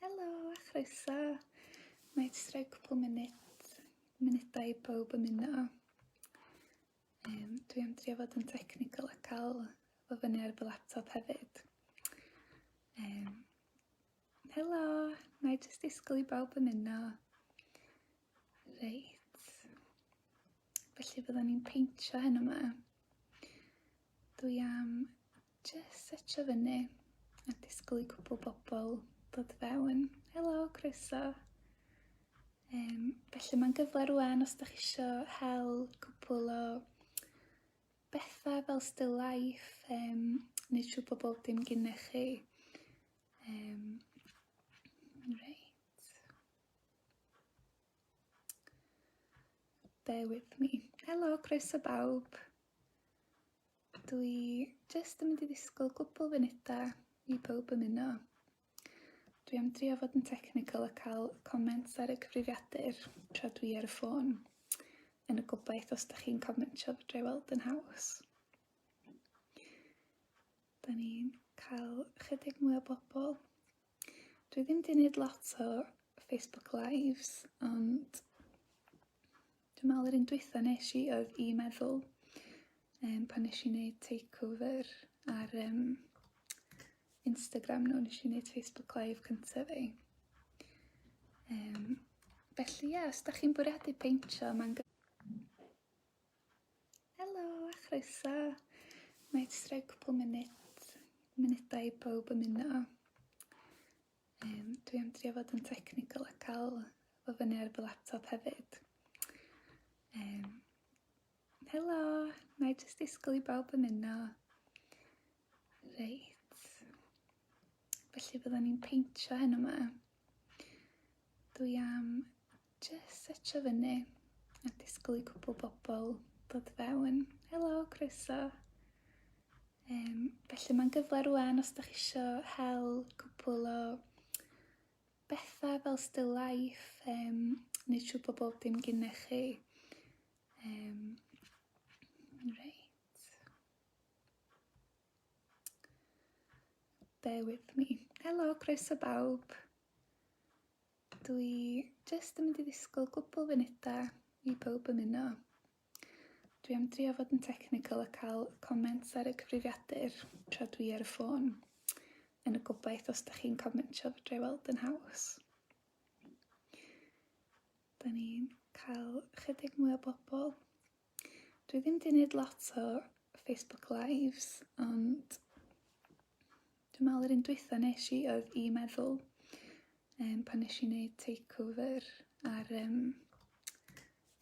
Helo a chroeso. Mae jyst rhoi cwpl munud, munudau i bawb ymuno. Um, dwi am drio fod yn technical a cael fy fyny ar fy laptop hefyd. Um, helo, mae jyst disgwyl i bawb ymuno. Reit. Felly byddwn ni'n peintio hyn yma. Dwi am just setio fyny a disgwyl i cwbl bobl dod fewn. Helo, croeso. Um, felly mae'n gyfle rwan os ydych eisiau hel cwbl o bethau fel still life, um, nid siw bod bob dim gynnech chi. Um, Bear with me. Helo, croeso bawb. Dwi jyst yn mynd i ddisgwyl gwbl funudau i bawb ymuno. Dwi am drio fod yn technical a cael comments ar y cyfrifiadur tra dwi ar y ffôn. Yn y gobaith os da chi'n commentio fod drai weld yn haws. Da ni'n cael chydig mwy o bobl Dwi ddim wedi gwneud lot o Facebook Lives, ond dwi'n meddwl yr un dwytha nes i oedd i meddwl um, pan nes i wneud takeover ar um, Instagram nhw, nes i wneud Facebook Live cyntaf fi. Um, felly ie, yeah, os da chi'n bwriadu peintio, mae'n Helo a chroeso. Mae jyst rhoi cwpl munud, munudau i bawb ymuno. Um, dwi am drio fod yn technical a cael fo fyny ar fy laptop hefyd. Um, helo, mae jyst disgwyl i bawb ymuno. Reit. Felly byddwn ni'n peintio hyn yma. Dwi am jyst setio fyny a disgwyl i cwpl bobl dod fewn. Helo, croeso. Um, felly mae'n gyfle rwan os da chi isio hel cwpl o bethau fel still life, um, neu siw bod bob dim gyda chi. Um, reit. Bear with me. Helo, croeso bawb. Dwi jyst yn mynd i ddisgwyl gwbl funudau i bawb ymuno. Dwi am drio fod yn technical a cael comments ar y cyfrifiadur tra dwi ar y ffôn. Yn y gobaith os da chi'n commentio fod drwy weld yn haws. Da ni'n cael chydig mwy o bobl Dwi ddim wedi gwneud lot o Facebook Lives, ond dwi'n meddwl yr un dwytha nes i oedd i meddwl um, pan nes i wneud takeover ar um,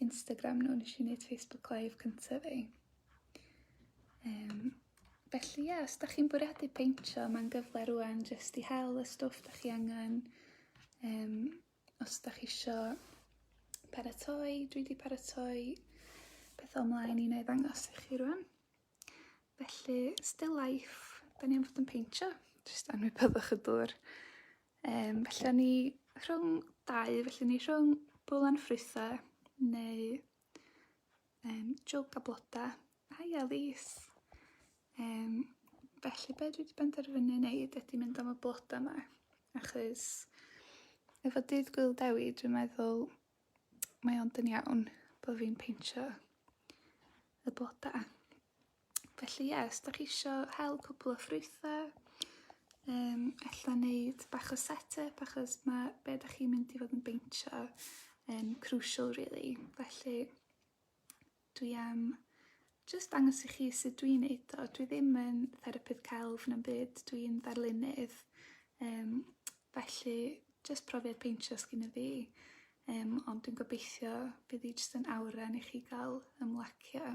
Instagram nhw, nes i wneud Facebook Live cyntaf fi. Um, felly ie, yeah, os da chi'n bwriadu peintio, mae'n gyfle rwan jyst i hel y stwff da chi angen, um, Os da chi isio paratoi, dwi wedi paratoi pethau ymlaen i wneud ddangos i chi rwan. Felly, still life, da ni am fod yn peintio, jyst anwybyddwch y dŵr. Um, felly, ni rhwng dau, felly ni rhwng bwlan ffrwythau neu um, jwg a bloda. Hi Elise! Um, felly be dwi wedi benderfynu wneud ydy mynd am y bloda yma, achos efo dydd gwyl dewi dwi'n meddwl mae ond yn iawn bod fi'n peintio y bloda. Felly ie, os da chi isio hel cwpl o ffrwythe, um, ella neud bach o set-up, achos mae be da chi'n mynd i fod yn beintio yn crucial really. Felly, dwi am just dangos i chi sut dwi'n neud o. Dwi ddim yn therapydd celf na'n byd, dwi'n ddarlunydd. Um, felly, just profiad peintio sgyn y fi. Um, ond dwi'n gobeithio bydd hi jyst yn awran i chi gael ymlacio.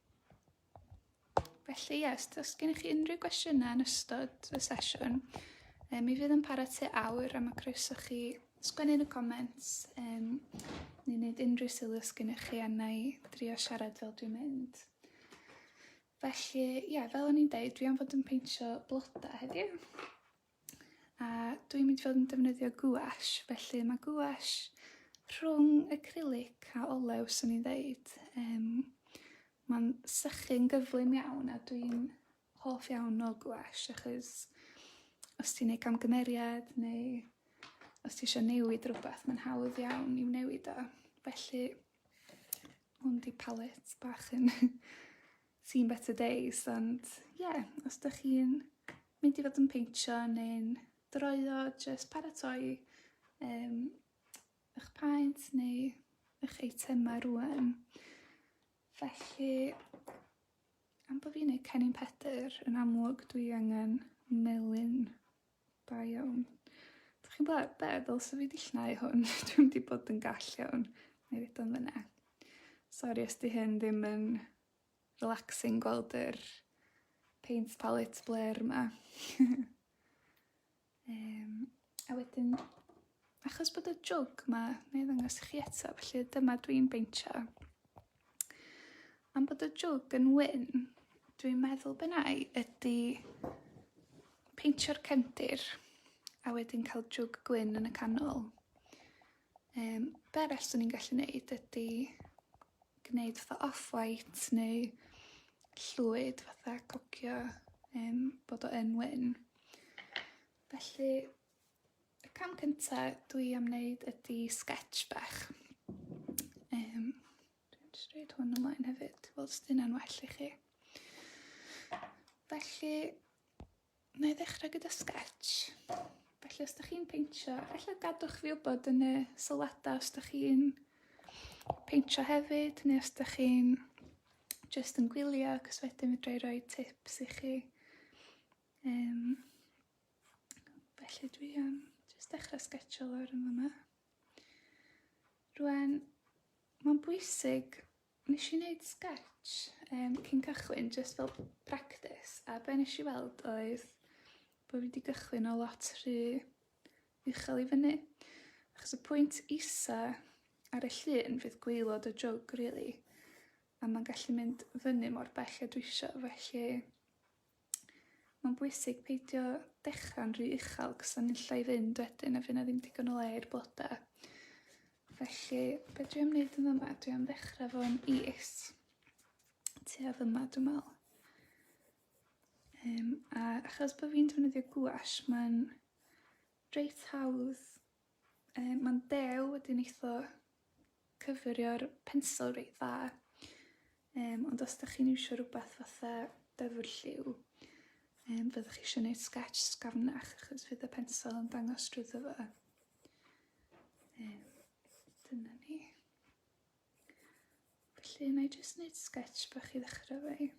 Felly, ie, os oes gennych chi unrhyw gwestiynau yn ystod y sesiwn, um, mi fydd yn para tua awr am y croeso chi sgwennu yn y comments um, neu wneud unrhyw sylw os gennych chi a na i drio siarad fel dwi'n mynd. Felly, ie, fel o'n i'n deud, dwi am fod yn peintio blodau heddiw. A dwi'n mynd i fod yn defnyddio gouache, felly mae gouache rhwng acrylic a olew, swn i'n ddeud. Um, Mae'n sychu'n gyflym iawn a dwi'n hoff iawn o gouache achos os ti'n ei camgymeriad neu os ti eisiau newid rhywbeth, mae'n hawdd iawn i'w newid o. Felly, hwn di palet bach yn seen better days ond ie yeah, os da chi'n mynd i fod yn peintio neu'n droio jyst paratoi um, eich paent neu eich eitemau rwan. Felly am bod fi'n neud cennin pedr yn amlwg dwi angen melyn Da iawn. Dych chi'n gweld be'? Ddylse fi 'di llnau hwn. Dwi'm 'di bod yn gall iawn. Nâi roid o yn fan 'na. Sori os 'di hyn ddim yn relaxing gweld yr paint palette blêr 'ma. Yym, a wedyn, achos bod y jwg 'ma, nâi ddangos i chi eto, felly dyma dwi'n beintio. Am bod y jwg yn wyn, dwi'n meddwl be wna i ydy peintio'r cefndir a wedyn cael jwg gwyn yn y canol. Um, be arall swn i'n gallu neud ydy gwneud fatha off-white neu llwyd fatha cocio um, bod o yn wyn. Felly Y cam cynta dwi am wneud ydy sketch bach. Um, dwi'n stryd hwn ymlaen hefyd, weld os dyna'n well i chi. Felly, na i ddechrau gyda sketch. Felly, os ydych chi'n peintio, felly gadwch fi wybod yn y sylwadau os ydych chi'n peintio hefyd, neu os ydych chi'n just yn gwylio, cos wedyn fydra i roi tips i chi. Um, Felly dwi am jyst dechrau sgetio lawr yn fyma. Rwan, mae'n bwysig, nes i wneud sketch um, cyn cychwyn, jyst fel practis, a be nes i weld oedd bod fi wedi gychwyn o lot rhy uchel i fyny. Achos y pwynt isa ar y llun fydd gweilod y jwg, really, a mae'n gallu mynd fyny mor bell a dwi eisiau, felly Mae'n bwysig peidio dechrau'n rhy uchel cos o'n nilla i fynd wedyn a fy' na ddim digon o le i'r bloda. Felly be' dwi am wneud yn yma dwi am ddechrau fo'n is tua fyma dwi'n meddwl. Um, a achos bod fi'n defnyddio gwash mae'n reit hawdd Yy ma'n dew wedi neitho cyfurio'r pensel reit dda yym ond os 'dach chi'n iwsio rwbath fatha dyfrlliw yym fyddwch chi isio neud sgets sgafnach achos fydd y pensel yn dangos drwyddo fo. Yy dyna ni. Felly 'nai jyst neud sgets bach i ddechra 'fo 'i.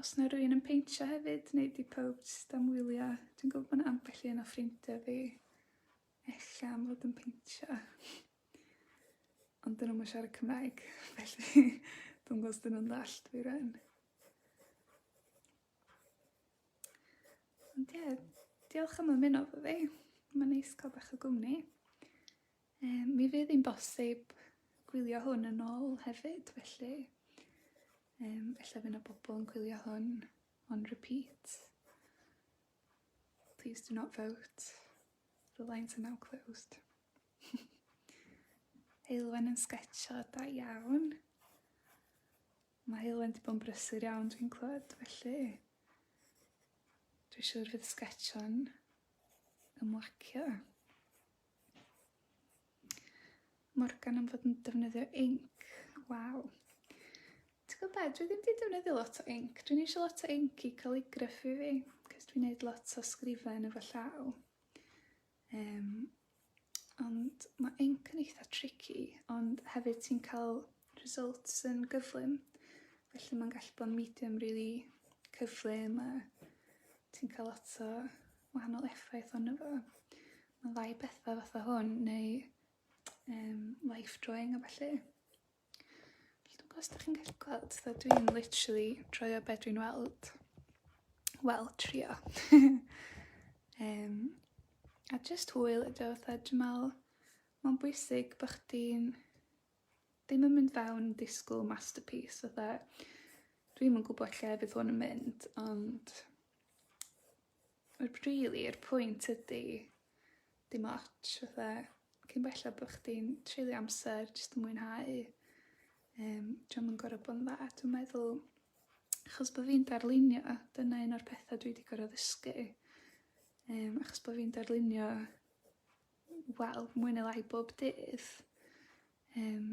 Os na rwy'n yn peintio hefyd, neu di pawb jyst am wylio, dwi'n gwybod bod ambell un o ffrindiau fi ella am fod yn peintio. Ond dyn nhw'n siarad Cymraeg, felly dwi'n gwybod dyn nhw'n ddall dwi rhan. Ond ie, diolch am ymuno fo fi. Mae'n neis cael bach o gwmni. Yym mi fydd 'i'n bosib gwylio hwn yn ôl hefyd felly yym ella fy' 'na bobol yn gwylio hwn on repeat. Please do not vote, the lines are now closed. Heulwen yn sgetsio da iawn. Mae Heulwen 'di bod yn brysur iawn dwi'n clywed felly dwi siŵr fydd sgetsio'n ymlacio. Morgan am fod yn defnyddio inc. Waw. Ti'n gwybod be, dwi ddim wedi defnyddio lot o inc. Dwi'n eisiau lot o inc i calligraffu fi, cos dwi'n gwneud lot o sgrifen efo llaw. Um, ond mae inc yn eitha tricky, ond hefyd ti'n cael results yn gyflym. Felly mae'n gallu bod yn medium really cyflym a ti'n cael lot o wahanol effaith ond efo. Fyddai pethe fatha hwn neu yym life drawing a ballu. Felly dw'bo os 'dach chi'n gallu gweld fel dwi'n literally draw be' dwi'n weld. Wel trio. Yym a jyst hwyl ydi o fatha dwi me'wl ma'n bwysig bo' chdi'n ddim yn mynd fewn yn disgwl masterpiece fatha dwi'm yn gwbod lle fydd hwn yn mynd ond Yr rili yr pwynt ydi dim otsh fatha cyn bellad bo' chdi'n treulio amser jyst yn mwynhau yym dio'm yn gor'o' bo' yn dda dwi'n meddwl achos bo' fi'n darlunio dyna un o'r petha dwi 'di gor'o' ddysgu yym achos bo' fi'n darlunio wel mwy ne' lai bob dydd Yym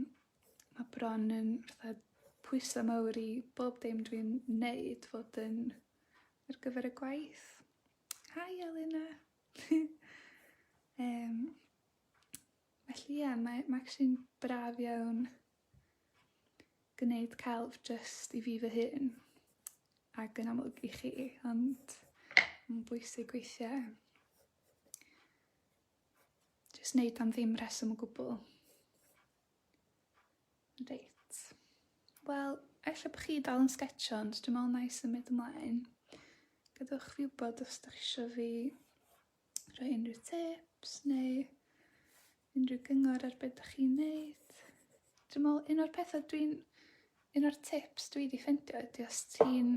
ma' bron yn fatha pwyse mawr i bob dim dwi'n neud fod yn ar gyfer y gwaith. Hi Elunna! Yym felly ia mae ma' actually'n braf iawn gneud celf jyst i fi fy hun ac yn amlwg i chi ond ma'n bwysig weithie. Jyst neud am ddim reswm o gwbl. Reit. Wel, ella bod chi dal yn sgetsio, ond dwi'n meddwl na i symud ymlaen. Gadewch fi wybod os ydych eisiau fi rhoi unrhyw tips neu unrhyw gyngor ar beth ydych chi'n neud. Dwi'n meddwl, un o'r pethau dwi'n... Un o'r tips dwi wedi ffeindio ydy os ti'n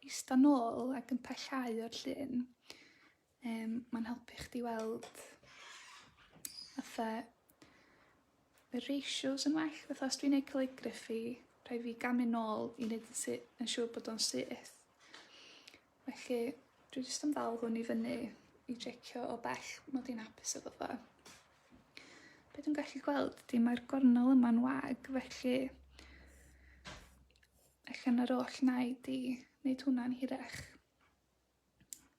eista nôl ac yn pellhau o'r llun, Yym mae'n helpu chdi weld fatha y ratios yn well. Fatha os dwi'n neud calligraphy, rhaid fi gamu nôl i neud yn sy- yn siŵr bod o'n syth. Felly dwi jyst yn dal hwn i fyny i jecio o bell mod i'n hapus efo fo. Be' dwi'n gallu gweld ydi mae'r gornel yma'n wag felly ella na'r oll naid i neud hwnna'n hirach.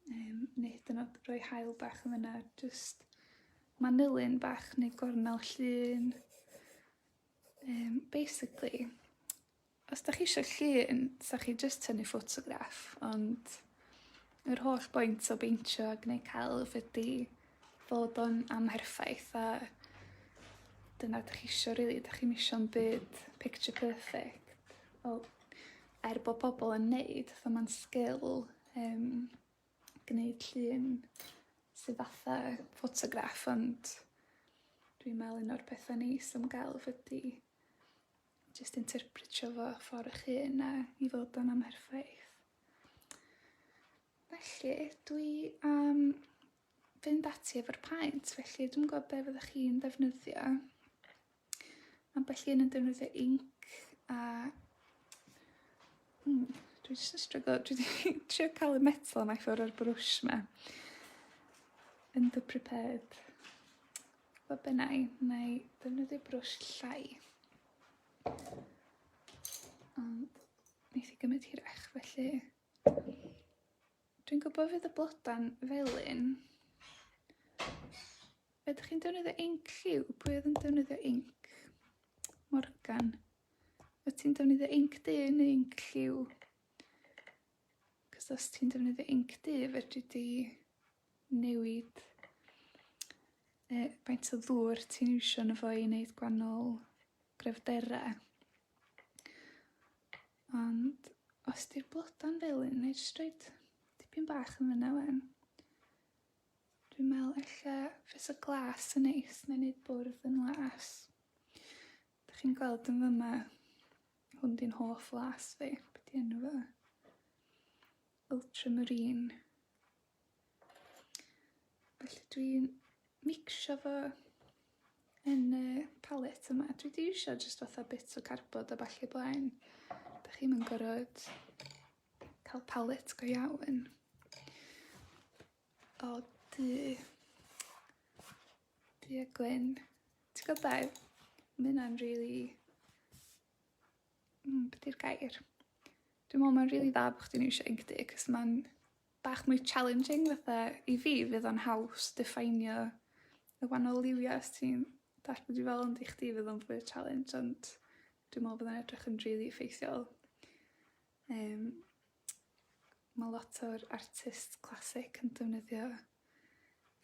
Um, neu hyd yn oed rhoi hael bach yn fyna, just manylyn bach neu gornel llun. Um, basically, os da chi eisiau llun, sa chi jyst tynnu ffotograff, ond yr holl boint o beintio a gwneud celf ydy fod o'n amherffaith a dyna dych chi eisiau rili, really, dych chi'n eisiau'n byd picture perfect. Wel, er bod pobl yn neud fatha ma'n sgil yym gneud llun sy fatha ffotograff ond dwi'n me'wl un o'r petha neis am gelf ydi jyst interpretio fo ffor 'ych hun a i fod yn amherffaith. Felly dwi am fynd ati efo'r paent felly dwi'm yn gw'o' be' fyddech chi'n ddefnyddio. Ambell un yn defnyddio inc a... Hmm, dwi jyst yn stryglo. Dwi wedi trio cael y metal yma i ffwrdd o'r brwsh yma. Underprepared. Fo bennau, na i defnyddio brwsh llai. Ond neith i gymryd hirach, felly... Dwi'n gwybod fydd y blodau'n felyn. Ydych chi'n defnyddio inc lliw? Pwy oedd yn defnyddio inc? Morgan. Wyt ti'n defnyddio inc du neu inc lliw? Cos os ti'n defnyddio inc du, fedri di newid e, faint o ddŵr ti'n iwsio yn y fo i wneud gwannol gryfderau. Ond os di'r bloda'n felyn, neu jyst roed tipyn bach yn fyna wen. Dwi'n meddwl ella fysa glas yn neis neu neud bwrdd yn las. Dych chi'n gweld yn fyma? Hwn di'n hoff las fi. Be' 'di enw fo? Ultramarine. Felly dwi'n micsio fo yn y palet yma. Dwi 'di iwsio jyst fatha bits o cardboard a ballu blaen. Dych chi'm yn gorod cael palet go iawn o du, du a gwyn. Ti'n gwybod be? Mae hynna'n really... Mm, beth yw'r gair? Dwi'n meddwl mae'n really dda bod chdi'n iwsio Inkdy, cos mae'n bach mwy challenging fatha i fi fydd o'n haws diffeinio y wahanol liwiau os ti'n dall bod i fel ond i chdi fydd o'n fwy o challenge ond dwi'n meddwl bod o'n edrych yn rili really effeithiol. Yym ma' lot o'r artists classic yn defnyddio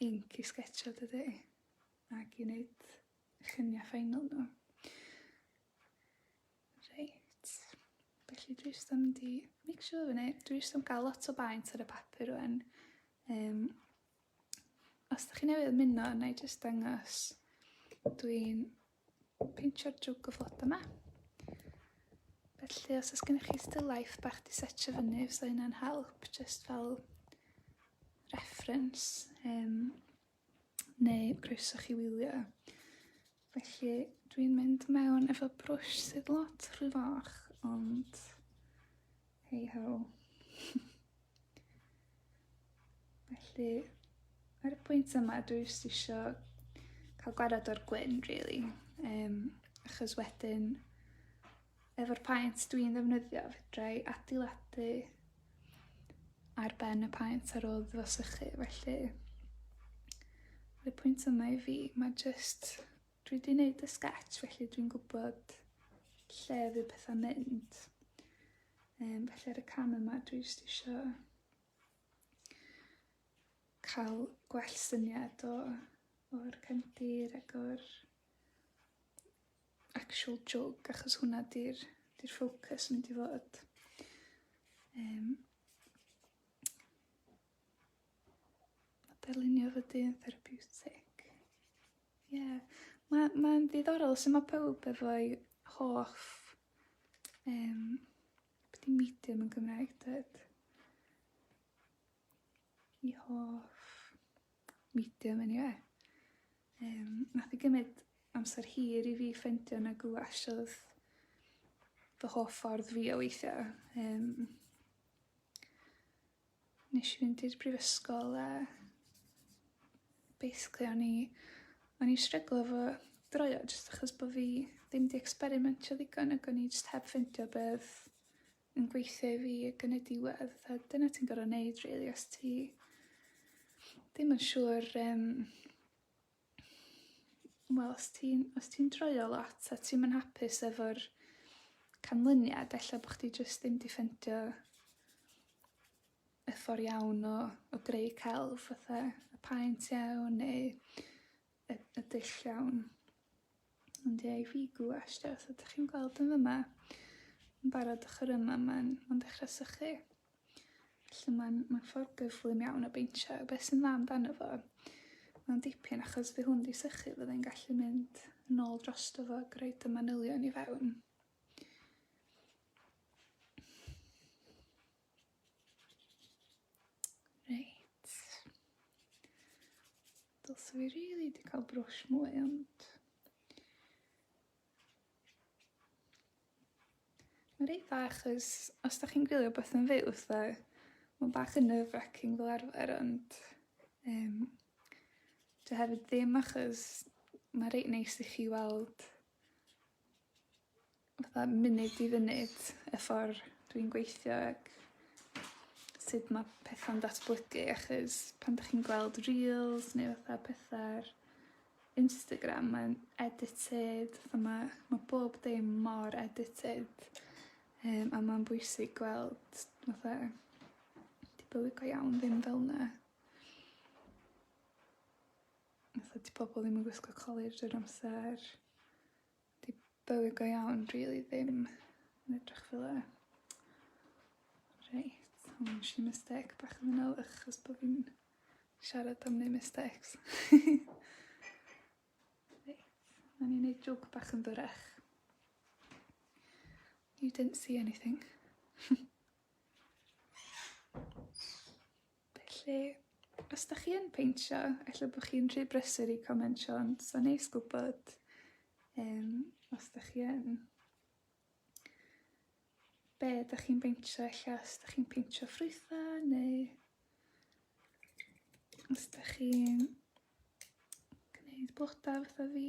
inc i sgetsio dydi? Ag i neud llunia' ffeinal n'w. Reit felly dwi jyst yn mynd i micsio fo fyny. Dwi jyst am ga'l lot o baent ar y papur rŵan yym os 'dach chi newydd ymuno nâi jyst dangos dwi'n peintio'r jwg o flodau yma. Felly os oes gennych chi still life bach di setio fyny, os oes yna'n help, just fel reference, um, neu croeso chi wylio. Felly dwi'n mynd mewn efo brwsh sydd lot rhy fach, ond hey ho. Felly, ar y pwynt yma, dwi jyst isio cael gwared o'r gwyn, really. Um, achos wedyn, efo'r paent dwi'n ddefnyddio, fedrai adeiladu ar ben y paent ar ôl ddyfasychu, felly y pwynt yma i fi, mae just, dwi wedi gwneud y sketch, felly dwi'n gwybod lle fydd pethau'n mynd. Um, felly ar y cam yma dwi jyst isio cael gwell syniad o, o'r cefndir ac o'r actual jwg achos hwnna di'r di ffocws mynd i fod. Um, A dylunio fy dyn therapiwtig. Ie, yeah. mae'n ma ddiddorol sut mae pawb efo'i hoff um, beth i medium yn Gymraeg dweud? I hoff medium yn anyway. Um, nath i gymryd amser hir i fi ffendio na gwash oedd fy hoff ffordd fi o weithio. Um, Nesh i fynd i'r brifysgol a basically o'n i o'n i stryglo efo draws o jyst achos bo' fi ddim 'di ecsperimentio ddigon ag o'n i jyst heb ffindio be' odd yn gweithio i fi ag yn y diwedd a dyna ti'n gor'o' neud rili os ti ddim yn siŵr yym wel os ti'n os ti'n dreulio lot a ti'm yn hapus efo'r canlyniad ella bo' chdi jyst ddim 'di ffindio y ffor iawn o o greu celf fatha y paent iawn neu y y dull iawn. Ond ie, i fi gwasht, os ydych chi'n gweld yn fyma, yn barod ochr yma, mae'n ma dechrau sychu. Felly mae'n ma ffordd gyflym iawn o beintio. A beth sy'n dda amdano fo, mae'n dipyn achos fi hwn di sychu, fydde'n gallu mynd yn ôl dros fo ac rhoi y manylion i fewn. Reit. Dylse fi rili 'di cael brwsh mwy ond... Mae'n reit dda achos os dach chi'n gwylio beth yn fyw fatha mae'n bach yn nerve wracking fel arfer ond yym dwi hefyd ddim achos mae reit neis i chi weld fatha munud i funud y ffor dwi'n gweithio ag sud ma' petha'n datblygu achos pan 'dach chi'n gweld Reels neu fatha petha ar Instagram mae'n edited fatha ma' ma' bob dim mor edited yym a ma'n bwysig gweld fatha dipyn go iawn ddim fel 'na. fatha 'di pobol ddim yn gwisgo colur drwy'r amser. 'Di bywyd go iawn rili ddim yn edrych fel 'a. Reit so ma' nesh i mistêc bach yn fana achos bo' fi'n siarad am neud mistakes. Reit, nawn ni neud jôc bach yn fyrrach. You didn't see anything. Felly, os da chi yn peintio, ella bo' chi'n rhy brysur i comentio ond 'sa'n neis gwbod yym os 'dach chi yn. Be' 'dach chi'n beintio ella os 'dach chi'n peintio ffrwytha' neu os 'dach chi'n gneud bloda fatha fi.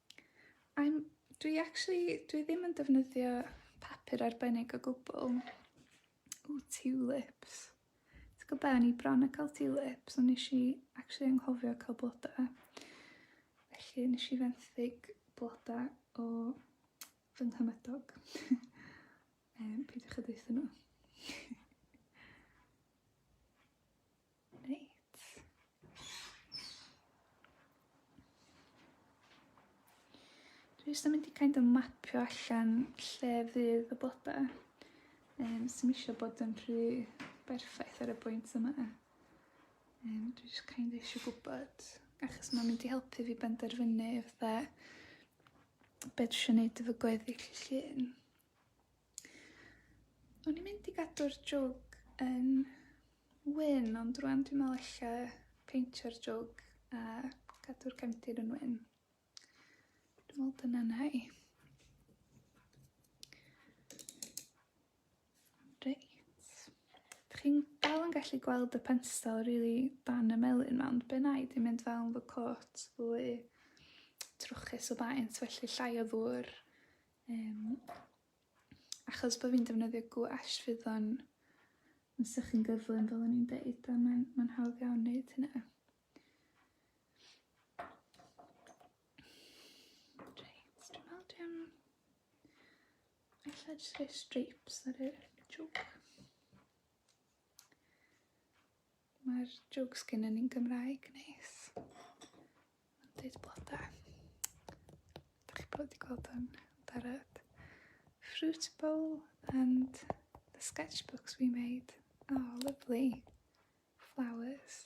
I'm, dwi actually, dwi ddim yn defnyddio papur arbennig o gwbl. O, tulips. Ti'n gwybod be, o'n i bron yn cael tulips, ond nes i actually anghofio cael blodau. Felly nes i fenthyg blodau o fy nghymydog. um, peidiwch â deutha nhw. Dwi jyst yn mynd i kind of mapio allan lle fydd y bloda. Um, Sym eisiau bod yn rhy berffaith ar y bwynt yma. Um, dwi jyst kind of eisiau gwybod, achos mae'n mynd i helpu fi benderfynu fatha beth eisiau gwneud efo gweddill llun. O'n i'n mynd i gadw'r jwg yn wyn, ond rwan dwi'n meddwl ella peintio'r jwg a cadw'r cefndir yn wyn. Dwi'n meddwl dyna na i. Reit. Dych chi'n dal yn gallu gweld y pensel rili really dan y melyn ma, ond be na i, dwi'n mynd fel fy cot fwy trwchus o faint, felly llai o ddŵr Um, achos bod fi'n defnyddio gwash fydd o'n yn sych yn gyflym fel o'n i'n deud a mae'n ma hawdd iawn wneud hynna. Reit, dwi'n meddwl dwi'n... Alla jyst rhoi stripes ar y joke. Mae'r jokes gennyn ni'n Gymraeg, neis. Mae'n deud bloda. Dych chi'n bod wedi gweld o'n barod. Fruit bowl and the sketchbooks we made. Oh, lovely. Flowers.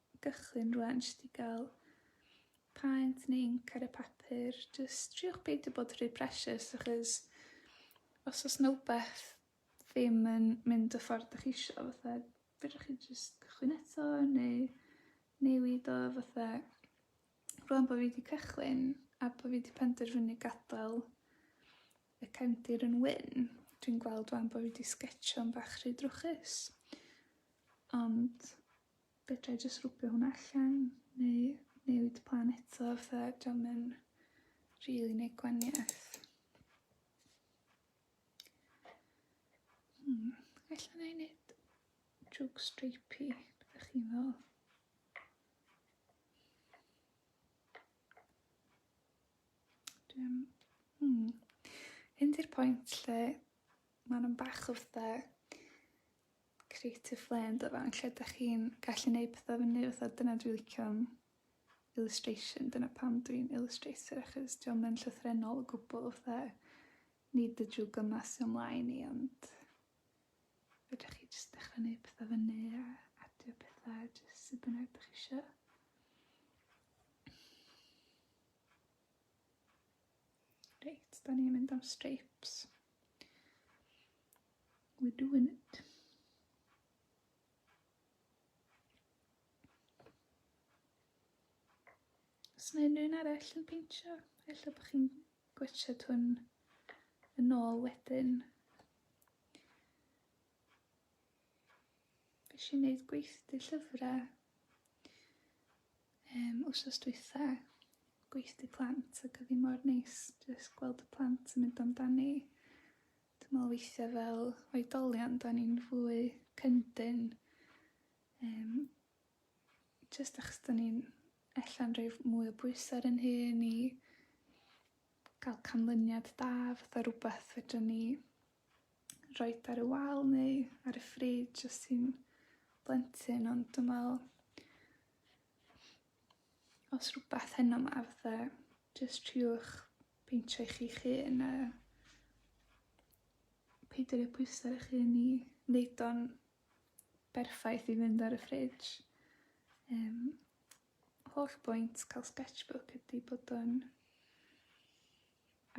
gychwyn rwan jyst i gael paent neu inc ar y papur. Jyst triwch beidio bod rhy precious achos os oes yna wbeth ddim yn mynd y ffordd ydych chi eisiau fatha fedrwch chi jyst cychwyn eto neu newid o fatha rwan bod fi wedi cychwyn a bod fi wedi penderfynu gadael y cefndir yn wyn dwi'n gweld rwan bod fi wedi sgetsio'n bach rhy drwchus ond Fedra i jyst rwbio hwnna allan neu newid plan eto os na 'di o'm yn rili neud gwanieth. Hmm, ella 'nai neud jug stripey, be' 'dach chi'n feddwl? Dwi'm... Hmm. Hyn 'di'r pwynt lle ma' nw'n bach o fatha Create a flare ynddo fe, lle dych chi'n gallu neud pethau fyny fatha dyna dwi'n licio am illustration, dyna pam dwi'n illustrator achos dio'm yn llythrennol o gwbl fatha nid y drwg yma sy o'm mlaen i ond fedrwch chi jyst dechra neud pethau fyny a adio pethau a jyst sut bynnag dych chi isio. Reit, da ni'n mynd am stripes. We're doing it. Os yna unrhyw un arall yn peintio, efallai bod chi'n gwachod hwn yn ôl wedyn. Fe si wneud gweithdy llyfrau um, wrsos dwytha, gweithdy plant ac oedd hi mor neis jyst gweld y plant yn mynd amdani. Dwi me'wl weithia' fel oedolion 'dan ni'n fwy cyndyn yym jyst achos 'dan ni'n ella'n rhoi f- mwy o bwysa' ar 'yn hun i ga'l canlyniad da fatha rwbath fedran ni roid ar y wal neu ar y frid jyst i'n blentyn ond dwi me'wl Os rhywbeth heno ma fatha jyst triwch peintio i chi'ch hun a peidio roi pwysa ar 'ych hun i neud o'n berffaith i fynd ar y fridge. Yym holl bwynt ca'l sketchbook ydi bod o'n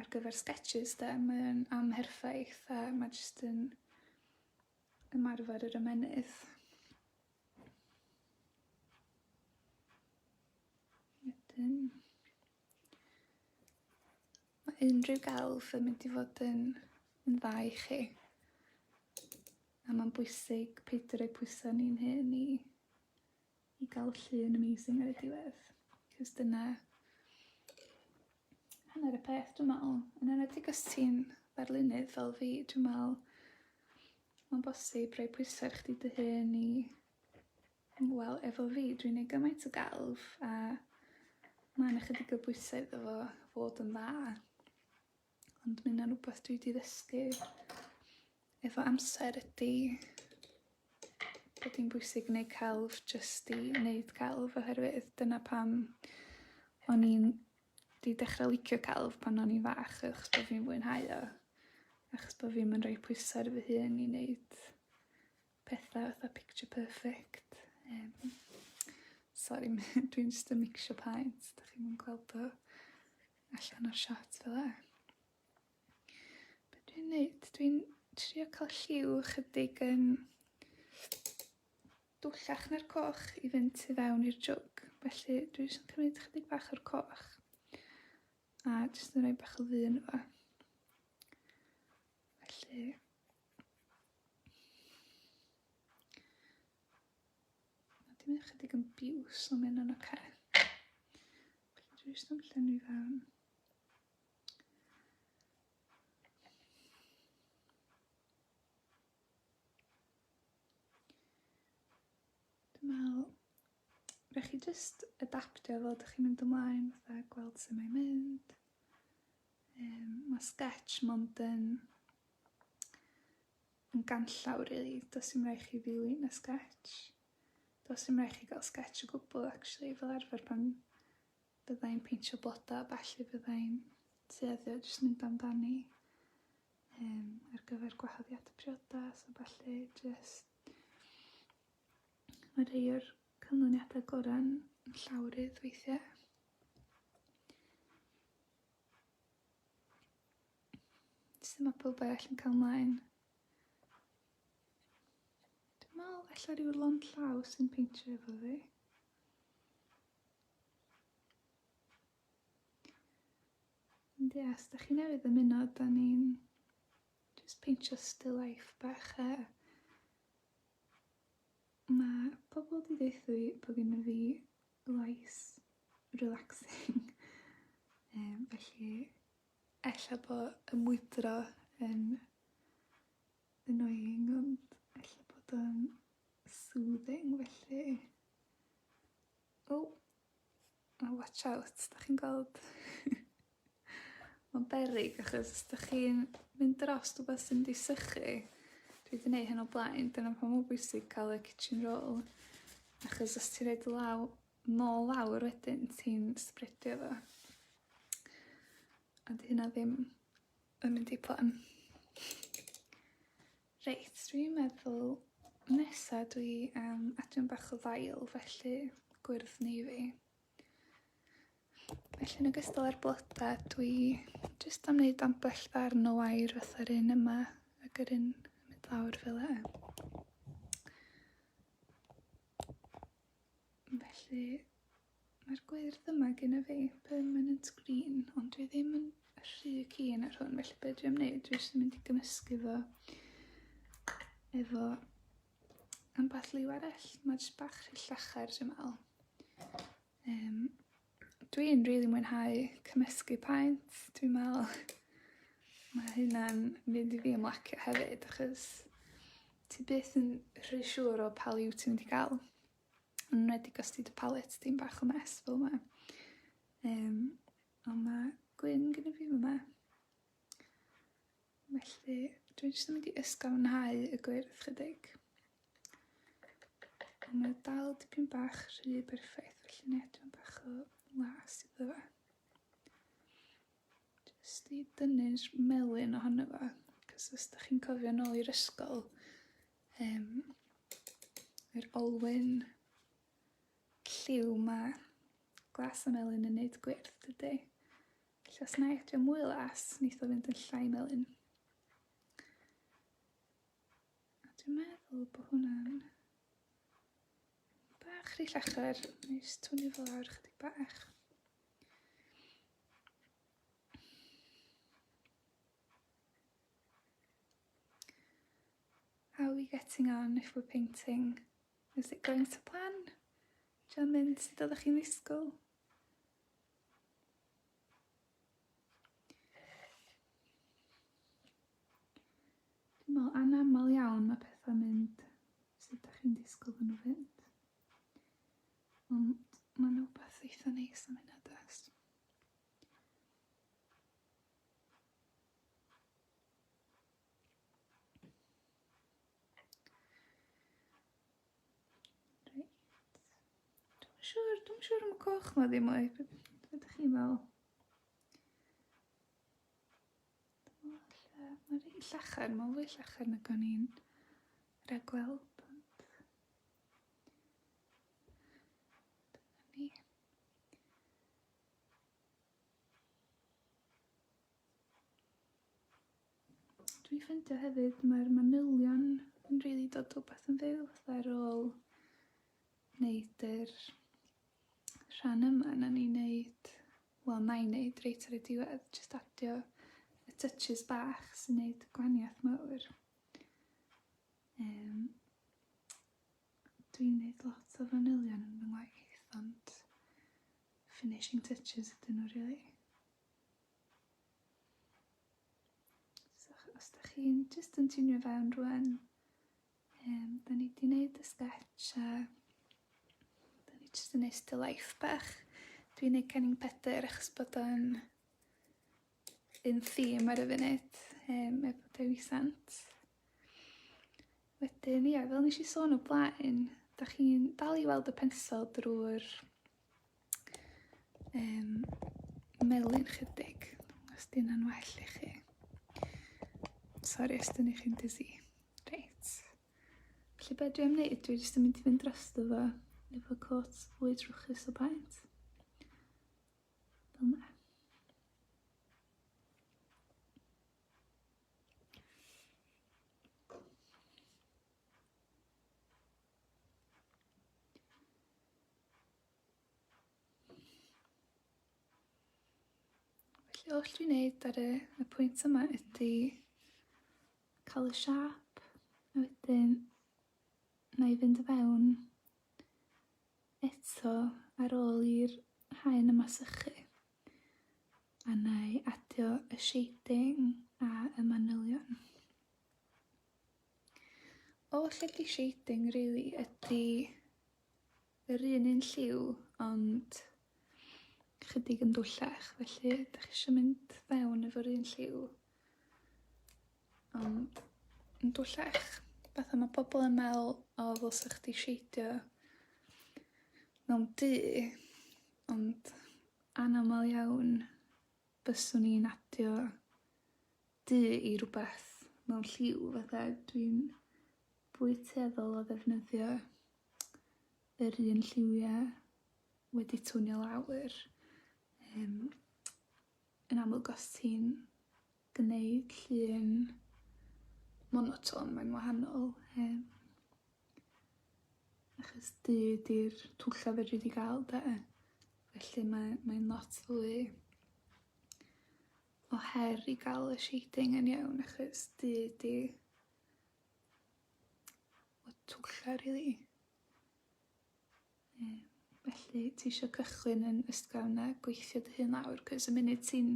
ar gyfer sgetshys 'de mae o'n amherffaith a ma' jyst yn ymarfer yr ymennydd. Wedyn, mae unrhyw gelf yn mynd i fod yn, yn dda i chi. A mae'n bwysig peidio rhoi pwysau ni'n hyn i, i gael llun amazing ar y diwedd. Cys dyna hanner y peth dwi'n meddwl. Yn enwedig os ti'n ddarlunydd fel fi, dwi'n meddwl Mae'n bosib rhoi pwysau ar chdi dy hun i... Wel, efo fi, dwi'n neud gymaint o gelf a mae yna chydig o bwysau iddo fo fod yn dda. Ond mae yna rhywbeth dwi wedi ddysgu efo amser ydy bod hi'n bwysig neud celf jyst i neud celf oherwydd dyna pam o'n i'n 'di dechra licio celf pan o'n i'n fach achos bo' fi'n fwynhau o, achos bo' fi'm yn roi pwysa' ar fy hun i neud petha fatha picture perfect yym sori ma' hyn... Dwi'n jyst yn micsio paent 'dach chi'm yn gweld o allan o'r shot fel 'a. Be' dwi'n neud? Dwi'n trio ca'l lliw chydig yn Dwllach na'r coch i fynd tu fewn i'r jwg, felly dwi jyst yn cymryd chydig bach o'r coch a jyst yn rhoi bach o ddyn fo. Felly... Mae dim yn chydig yn biws ond mynd yn oce. Felly dwi jyst yn llenwi fewn. Dwi'n meddwl, rhaid chi jyst adaptio fel ydych chi'n mynd ymlaen, fatha gweld sut mae'n mynd. Um, mae sketch mond yn, yn ganllaw, really. Does dim rhaid chi ddilyn y sketch. Does dim rhaid chi gael sketch o gwbl, actually, fel arfer pan byddai'n peintio bloda, felly byddai'n tueddio jyst mynd amdani. Yym ar gyfer gwahoddiad y priodas a ballu jyst mae rhai o'r canlyniadau gorau'n llawrydd weithiau. Sy'n mae pob arall yn cael mlaen. Dwi'n meddwl efallai rhyw lon llaw sy'n peintio efo fi. Ond ie, os da chi newydd ymuno, da ni'n just peintio still life bach a mae pobl di ddeitha fi bod gen i fi lais relaxing um, felly ella bod y mwydro yn annoying ond ella bod o'n soothing felly o oh. Oh watch out 'dach chi'n gweld? Ma'n beryg achos 'dach chi'n mynd drost wbath sy mynd i sychu. Dwi 'di neu' hyn o blaen dyna pam ma'n bwysig ca'l y kitchen roll achos os ti roid law- nôl lawr wedyn ti'n spredio fo. A 'di hynna ddim yn mynd i plan. Reit, dwi'n meddwl nesa dwi am adio'n bach o ddail felly gwyrdd navy. Felly yn ogystal â'r bloda dwi jyst am wneud ambell ddarn o wair fatha'r un yma ag yr un mynd lawr fel e. Felly Mae'r gwyrdd yma gyda fi, permanent green, ond dwi ddim yn rhy keen ar hwn, felly be dwi am wneud, dwi jyst yn mynd i gymysgu fo efo ambell liw arall. Mae jyst bach rhy llachar, dwi'n meddwl. Um, dwi'n rili really mwynhau cymysgu paent, dwi'n meddwl. Mae hynna'n mynd i fi ymlacio hefyd, achos ti byth yn rhy siŵr o pa liw ti'n mynd i gael. Yn enwedig os 'di dy palet di'n bach o mess fel yma. Yym a ma' gwyn gynna fi fy' 'ma. Felly dwi jyst yn mynd i ysgafnhau y gwyrdd chydig. A mae o dal dipyn bach rhy berffaith felly nâi adran bach o las iddo fe. Jyst i dynnu'r melyn ohono fo, 'c'os os 'dach chi'n cofio nôl i'r ysgol Yym, yr olwyn lliw 'ma. Glas a melyn yn neud gwyrth, dydi? Felly os nâi adio mwy o las, neith o fynd yn llai melyn. A dwi'n meddwl bo hwnna'n bach rhy llachar. Nâi jyst twynnu fo lawr chydig bach. How are we getting on if we're painting? Is it going to plan? Diolch mynd sut oeddech chi'n ddisgwyl? Dwi'n meddwl anaml iawn mae pethau'n mynd sut ydych chi'n disgwyl fan nhw fynd. Ond mae'n rhywbeth eitha neis am hynna does? coch ma ddim mwy. Be ydych chi'n fel? Mae rhaid llachar, mae fwy llachar na gan i'n rhagweld. Dwi'n ffeindio hefyd mae'r manylion yn rili dod o beth yn fyw ar ôl wneud yr rhan yma na ni'n neud, wel na'i'n neud reit ar y diwedd, jyst adio y touches bach sy'n neud gwaniath mawr. Um, Dwi'n neud lot o fanylion yn fy ngwaith ond finishing touches ydyn nhw rili. So os da chi'n jyst yn tunio fewn rwan, um, da ni di neud y sketch a da ni jyst yn neud still life bach. Dwi'n neud Cenning Pedr achos bod o'n un theme ar y funud yym efo Dewi Sant. Wedyn ia fel nes i sôn o blaen dach chi'n dal i weld y pensel drwy'r um, melyn chydig os di hynna'n well i chi. Sori os dyn ni chi'n dizzy. Reit. Felly be dwi'n neud, dwi jyst yn mynd i fynd dros fo efo cwrt fwy trwchus o paent. Felly, oll dwi'n neud ar y, y pwynt yma ydy cael y siap, a wedyn na i fynd y fewn Eto, ar ôl i'r haen yma sychu, a na i adio y shading a y manylion. Oll lle di shading really ydy yr un un lliw ond chydig yn dwllach felly ydych chi eisiau mynd fewn efo'r un lliw Ond, yn bellach, fatha ma' pobol yn me'wl o ddylsa chdi sheidio mewn du, ond anamal iawn byswn i'n adio du i rwbeth mewn lliw fatha dwi'n fwy tueddol o ddefnyddio yr un lliwia' wedi twnio lawr, yym yn amlwg os ti'n gwneud llun monotone, mae'n wahanol, yym, achos du ydi'r twlla fedri di gael de, felly mae, mae'n lot fwy o her i gael y shading yn iawn achos du ydi y twlla rili. Yym, felly ti eisiau cychwyn yn ysgafn a gweithio dy hun lawr, cos y munud ti'n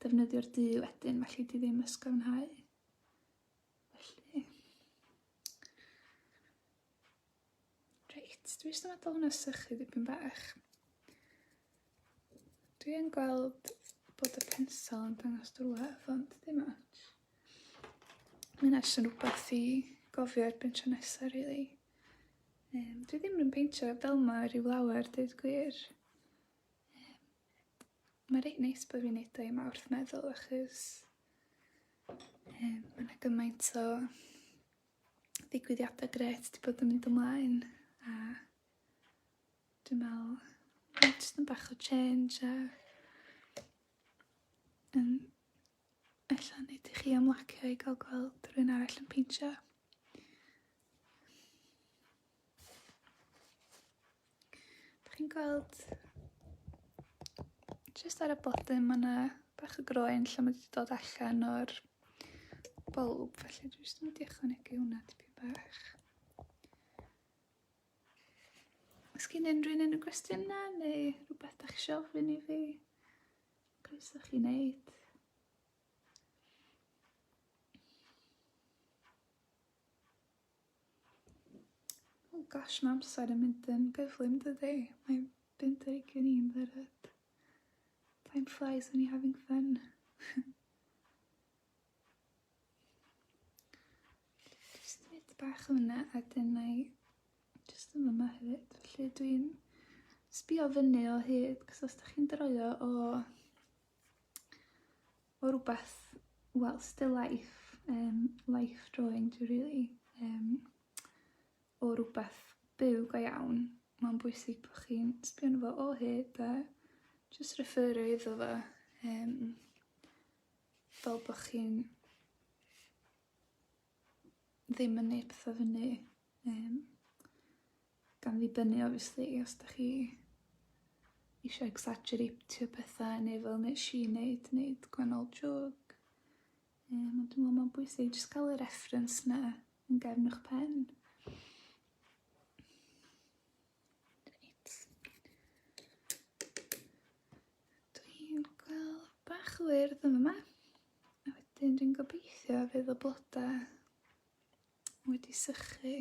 defnyddio'r du wedyn, felly di ddim ysgafnhau. Felly... Reit, dwi eisiau meddwl hwnna sychu ddipyn bach. Dwi yn gweld bod y pensel yn dangos drwedd, ond ddim ots. Mae'n eich yn rhywbeth i gofio ar bentio nesaf, rili. Really. Um, dwi ddim yn peintio fel ma rhyw lawer, dweud gwir. Mae reit neis bod fi'n neud o i Mawrth meddwl achos um, mae yna gymaint o ddigwyddiadau gret wedi bod yn mynd ymlaen a dwi'n meddwl mae'n just yn bach o change a yn ella nid i chi ymlacio i gael gweld rhywun arall yn peintio. Dych chi'n gweld jyst ar y bottom mae yna bach o groen lle mae wedi dod allan o'r bulb, felly dwi jyst yn mynd i ychwanegu hwnna tipyn bach. Os gen unrhyw un yn y gwestiynau neu rhywbeth da chi eisiau ofyn i fi, croeso chi wneud. Oh gosh, mae amser yn mynd yn gyflym dydy? Mae'n bum deg yn un dderyd. Time flies when you're having fun. Just mynd bach o hwnna a dyn na i just yn yma hefyd. Felly dwi'n sbio fyny o hyd, cos os da chi'n droio o o rwbeth, wel, still life, um, life drawing dwi rili, um, o rwbeth byw go iawn, mae'n bwysig bod chi'n sbio fo o hyd a just referio iddo fo, um, fel bod chi'n ddim yn neud petha fyny yym gan ddibynnu obviously os 'dach chi isio egsajereitio petha neu fel nesh i neud neud gwennol jôc yym ond dwi me'wl ma'n bwysig jyst ca'l y reference 'na yn gefn 'ych pen. Dwi'n gweld bach o wyrdd yn yma. A wedyn dwi'n gobeithio fydd y blodau wedi sychu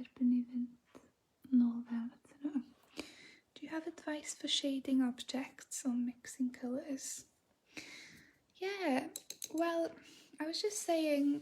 erbyn i fynd nôl fewn at nhw. Do you have advice for shading objects or mixing colours? Yeah, well, I was just saying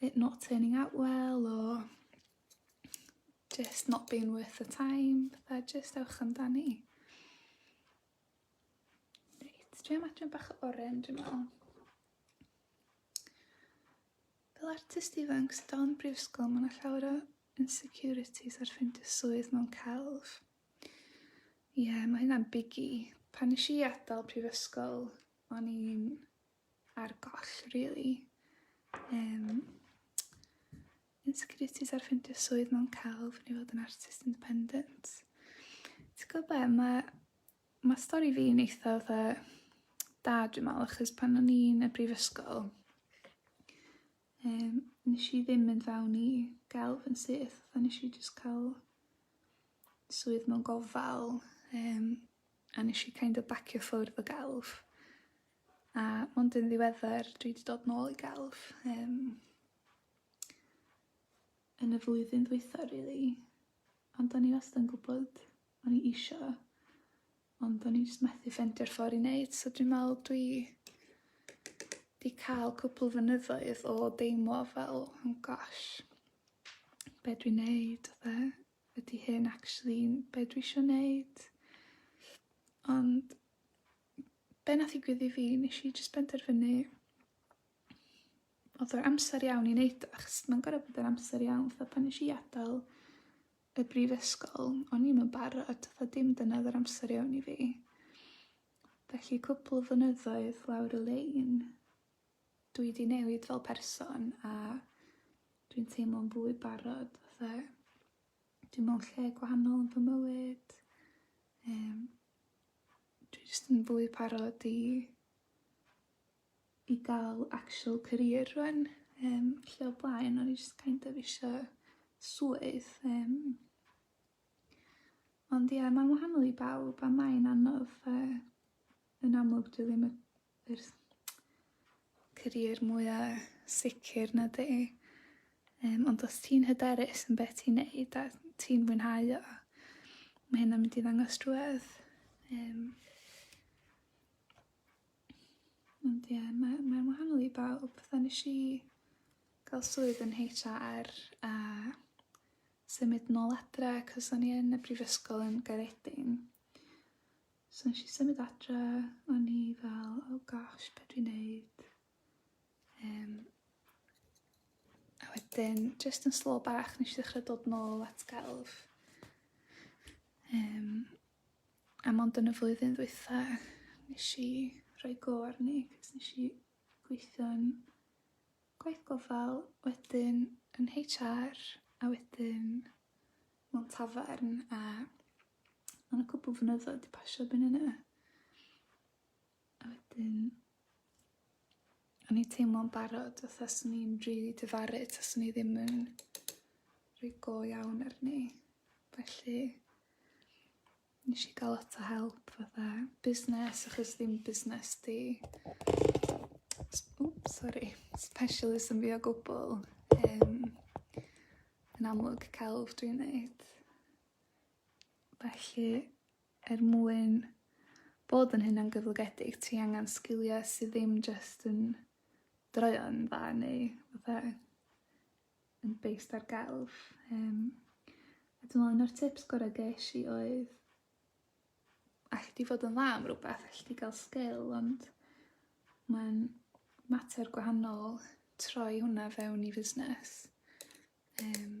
it not turning out well or just not being worth the time, fatha just ewch amdani. Reit, dwi am adran bach o oren, dwi'n meddwl. Fel artist ifanc sydd dal yn brifysgol, mae yna llawer o insecurities ar ffeindio swydd mewn celf. Ie, yeah, mae hynna'n biggie. Pan nes i adael prifysgol, o'n i'n ar goll really. Um, insecurities ar ffeindio swydd mewn celf neu fod yn artist independent. Ti'n gwybod be, mae ma stori fi yn eitha fatha da dwi'n meddwl, achos pan o'n i'n y brifysgol, um, nes i ddim mynd fewn i gelf yn syth, a nes i just cael swydd mewn gofal, um, a nes i kind of bacio ffwrdd o gelf. A mond yn ddiweddar dwi 'di dod nôl i gelf yym yn y flwyddyn ddwytha rili ond o'n i wastad yn gwbod o'n i isio ond o'n i jyst methu ffendio'r ffor i neud so dwi'n me'wl dwi 'di ca'l cwpwl flynyddoedd o deimlo fel oh gosh be' dwi'n neud a pethe. Ydi hyn actually be' dwi isio neud? Ond be' nath ddigwydd i fi nesh i jyst benderfynu odd yr amser iawn i neud o achos ma'n gor'o' bod yr amser iawn fatha pan nesh i adal y brifysgol o'n i'm yn barod fatha dim dyna odd yr amser iawn i fi. Felly cwpwl o flynyddoedd lawr y lein dwi 'di newid fel person a dwi'n teimlo'n fwy barod fatha dwi mewn lle gwahanol yn fy mywyd yym dwi jyst yn fwy parod i i ga'l actual career rŵan yym lle o blaen o'n i jyst kind of isio swydd yym ond ia ma'n wahanol i bawb a mae'n anodd yy yn amlwg dyw ddim y Yr career mwya sicr na di yym ond os ti'n hyderus yn beth ti'n neud a ti'n mwynhau o ma' hynna'n mynd i ddangos trwedd yym ond ie ma' mae'n wahanol i bawb fatha nesh i ga'l swydd yn Heitch Are a symud nôl adre 'c'os o'n i yn y brifysgol yn Gaeredin So nes i symud adre, o'n i fel, oh gosh, be dwi'n neud? Um, a wedyn, just yn slo bach, nes i ddechrau dod nôl at gelf. Um, a mond yn y flwyddyn ddwytha, nes i rhoi go arni, cos nes i gweithio'n gwaith gofal, wedyn yn HR, a wedyn mewn tafarn, a Ond y cwpl fynyddoedd di pasio byn yna. A wedyn... O'n i teimlo'n barod oedd as o'n i'n rhi dyfaru tas o'n i ddim yn rhi go iawn ar ni. Felly... Nes i gael lot o help fatha busnes achos ddim busnes di. O, sori. Specialism fi o gwbl. Um, yn amlwg celf dwi'n neud. Felly, er mwyn bod yn hunangyflogedig ti angan sgilia sy ddim jyst yn droeon dda neu fatha yn based ar gelf yym a dwi me'wl un o'r tips gora' gesh i oedd allet ti fod yn dda am rwbath allet ti ga'l sgil ond ma'n mater gwahanol troi hwnna fewn i fusnes yym.